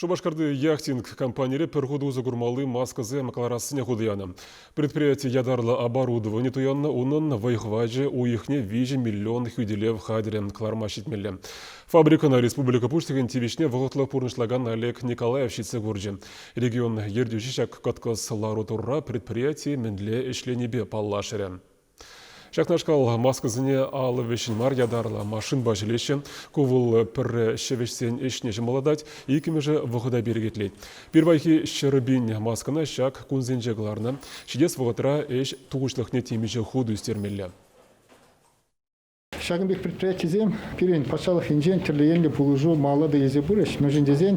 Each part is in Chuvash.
Шупашкарти яхтинг компанире пӗр хут усӑ курмалли маскӑсем кӑларассине хута янӑ. Предприяти ятарлӑ оборудовани туяннӑ, унӑн вӑй-хӑвачӗ уйӑхне 2 миллион хӳтӗлев хатӗрӗ кӑларма ҫитмелле. Фабрикӑна республика Пуҫлӑхӗн тивӗҫне вӑхӑтлӑх пурнӑҫлакан Олег Николаев ҫитсе курчӗ. Регион ертӳҫи ҫак кӑткӑс лару-тӑрура предприяти мӗнле ӗҫленипе паллашрӗ. Ҫакнашкал маскӑсене алӑ вӗҫҫӗн мар ятарлӑ машинпа ҫӗлеҫҫӗ. Ку вӑл пӗрре ҫӗвӗҫсен ӗҫне ҫӑмӑллатать, иккӗмӗшӗ вӑхӑта перекетлет. Пирвайхи ҫӗрпин маскӑна ҫак кунсенче кӑларнӑ. Ҫитес вӑхӑтра ӗҫ тухӑҫлӑхне темиҫе хут ӳстермелле. Ҫакӑн пек предприятисем пирӗн патшалӑх енчен тӗрлӗ енлӗ пулӑшу малалла та илсе пырӗҫ. Мӗншӗн тесен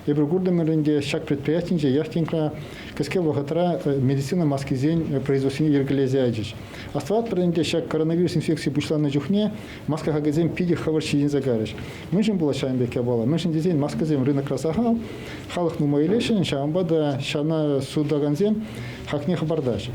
эпир куртӑмӑрӑн те ҫак предприятинче яш тинкра кӗске вӑхӑтра медицина маскисен производствине йӗркелесе ячӗҫ. Астӑватпӑр ӗнтӗ, ҫак коронавирус инфекци пуҫланнӑ чухне маска хакӗсем питӗ хӑвӑрт ҫитӗнсе кайрӗҫ. Мӗншӗн пулать ҫавӑн пек япала? Мӗншӗн тесен маскӑсем рынокра сахал, халӑх нумай илесшӗн, ҫавӑнпа та ҫавна сутакансем хакне хӑпартаҫҫӗ.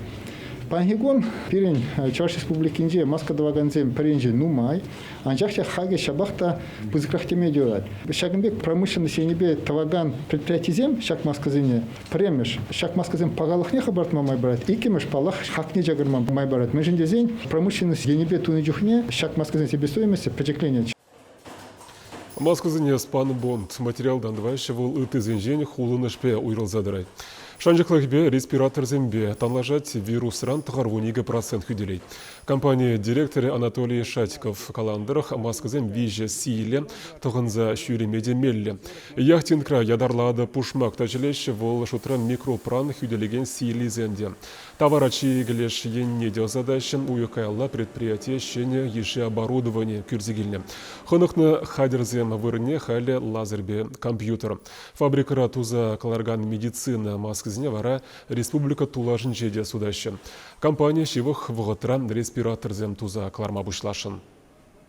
Паянхи кун пирӗн Чӑваш Республикинче маска тӑвакансем пӗринчен нумай, анчах та хакӗ ҫапах та пысӑкрах теме юрать. Ҫакӑн пек промышленность енӗпе тӑвакан предприятисем ҫак маскӑсене, пӗрремӗш, ҫак маскӑсем пахалӑхне хӑпартма май парать, иккӗмӗш, паллах, хакне чакарма май парать. Мӗншӗн тесен промышленность енӗпе тунӑ чухне ҫак маскӑсен себестоимости пӗчӗкленет. Москвӑсене спанбонд материалтан тӑваҫҫӗ, вӑл ыттисенчен хулӑнӑшпе уйрӑлса тӑрать. Шанчӑклӑхӗпе респираторсемпе танлашать, вирусран тӑхӑрвун икӗ процент хӳтӗлет. Компани директорӗ Анатолий Шатьков каланӑ тӑрӑх, маскӑсем виҫӗ сийлӗ тӑхӑнса ҫӳреме те меллӗ. Яхтингра ятарлатӑ пушмак та ҫӗлеҫҫӗ, вӑл шутра микропран хӳтӗлекен сийлисем те. Тавара чикӗ леш енне те ӑсатаҫҫӗ. Уйӑх каялла предприяти ҫӗнӗ йышши оборудовани кӳрсе килнӗ. Хӑнӑхнӑ хатӗрсем вырӑнне халӗ лазерпе компьютер. Фабрикӑра туса кӑларкан медицина маскисене вара республика тулашӗнче те сутаҫҫӗ. Компани ҫывӑх вӑхӑтра респираторсем туса кӑларма пуҫласшӑн.